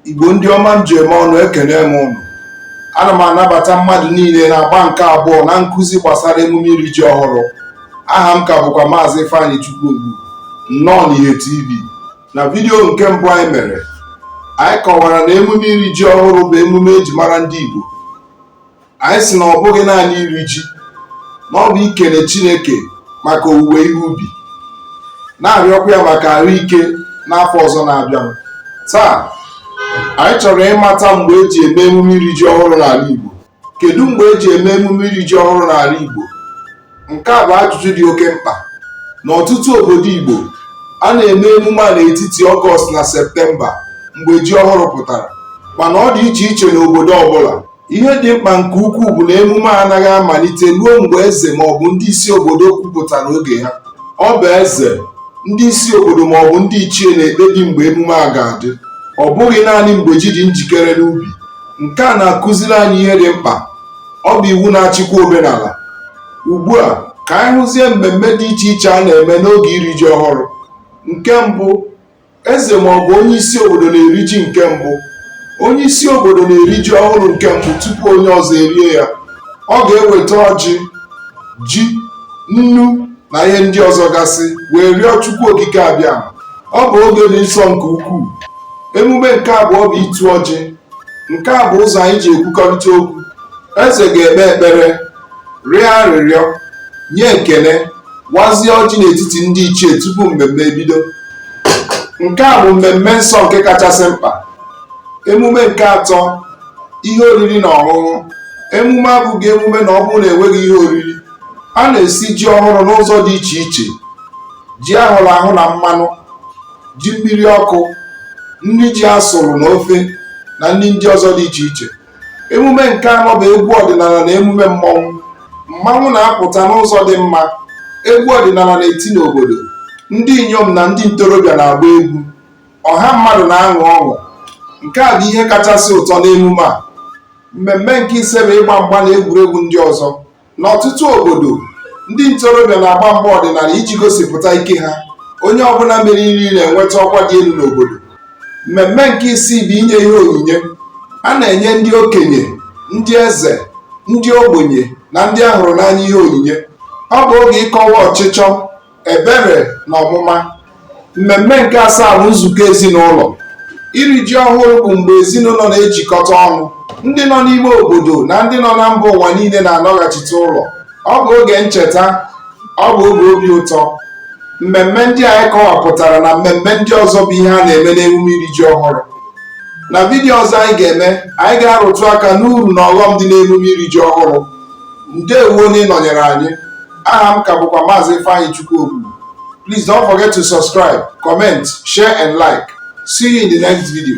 igbo ndị ọma m ji eme ọnụ ekene m ụnụ ana m anabata mmadụ niile n'agba nke abụọ na nkụzi gbasara emume iri ji ọhụrụ aha m ka bụkwa maazị Ifeanyịchukwu Ogbu nnọọ n'ihe TV na vidiyo nke mbụ anyị mere anyị kọwara na emume iri ji ọhụrụ bụ emume eji mara ndị Igbo anyị sị na ọ bụghị naanị iri ji na ọ bụ ikele Chineke maka owuwe ihe ubi na-arịọkwa ya maka ahụike n'afọ ọzọ na-abịa taa anyị chọrọ ịmata mgbe eji eme emume iri ji ọhụrụ n'ala Igbo kedu mgbe eji eme emume iri ji ọhụrụ n'ala Igbo nke a bụ ajụjụ dị oke mkpa n'ọtụtụ obodo Igbo a na-eme emume a n'etiti ọgọst na septemba mgbe ji ọhụrụ pụtara mana ọ dị iche iche n'obodo ọbụla ihe dị mkpa nke ukwuu bụ na emume a anaghị amalite ruo mgbe eze maọbụ ndị isi obodo kwupụtara oge ha ọ bụ eze ndị isi obodo maọbụ ndị ichie na-ekpebi mgbe emume a ga-adị ọ bụghị naanị mgbe ji dị njikere n'ubi nke a na-akụziri anyị ihe dị mkpa ọ bụ iwu na-achịkwa omenala ugbu a ka anyị hụzie mmemme dị iche iche a na-eme n'oge iri ji ọhụrụ nke mbụ eze ma ọ bụ onye isi obodo na-eri ji nke mbụ onye isi obodo na-eri ji ọhụrụ nke mbụ tupu onye ọzọ erie ya ọ ga-eweta ọjị ji nnu na ihe ndị ọzọ gasị wee rịọ chukwu okike abịama ọ bụ oge dị nsọ nke ukwuu emume nke abụọ bụ ịtụ ọjị nke a bụ ụzọ anyị ji ekwukọrịta okwu eze ga-ekpe ekpere rịọ arịrịọ nye ekele wazie ọjị n'etiti ndị ichie tupu mmemme ebido nke a bụ mmemme nsọ nke kachasị mkpa emume nke atọ ihe oriri na ọṅụṅụ emume abụghị emume ma ọ bụrụ na enweghị ihe oriri a na-esi ji ọhụrụ n'ụzọ dị iche iche ji ahụrụ ahụ na mmanụ ji mmiri ọkụ nri ji asụrụ na ofe na nri ndị ọzọ dị iche iche emume nke anọ bụ egwu ọdịnala na emume mmọnwụ mmanwụ na-apụta n'ụzọ dị mma egwu ọdịnala na-eti n'obodo ndị inyom na ndị ntorobịa na-agba egwu ọha mmadụ na-aṅụ ọṅụ nke a bụ ihe kachasị ụtọ n'emume a mmemme nke ise bụ ịgba mgba na egwuregwu ndị ọzọ N'ọtụtụ obodo, ndị ntorobịa na-agba mgba ọdịnala iji gosipụta ike ha. Onye ọbụla meriri na-enweta ọkwa dị elu n'obodo. Mmemme nke isii bụ inye ihe onyinye. A na-enye ndị okenye, ndị eze, ndị ogbenye, na ndị a hụrụ n'anya ihe onyinye. Ọ bụ oge ịkọwa ọchịchọ ebere na ọmụma mmemme nke asaa bụ nzukọ ezinụlọ iri ji ọhụrụ bụ mgbe ezinụlọ na-ejikọta ọnụ ndị nọ n'ime obodo na ndị nọ na mba ụwa niile na-anọghachite ụlọ ọ bụ oge ncheta ọ bụ oge obi ụtọ mmemme ndị anyị kọwapụtara na mmemme ndị ọzọ bụ ihe a na-eme n'emume iri ji ọhụrụ na vidiyo ọzọ anyị ga-eme anyị ga-arụtụ aka n'uru na ọghọm dị n'emume iri ji ọhụrụ ndewo na ịnọnyere anyị aha m ka bụkwa maazị ifeanyịchukwu ogbugbu please don't forget to subscribe comment share and like see you in the next video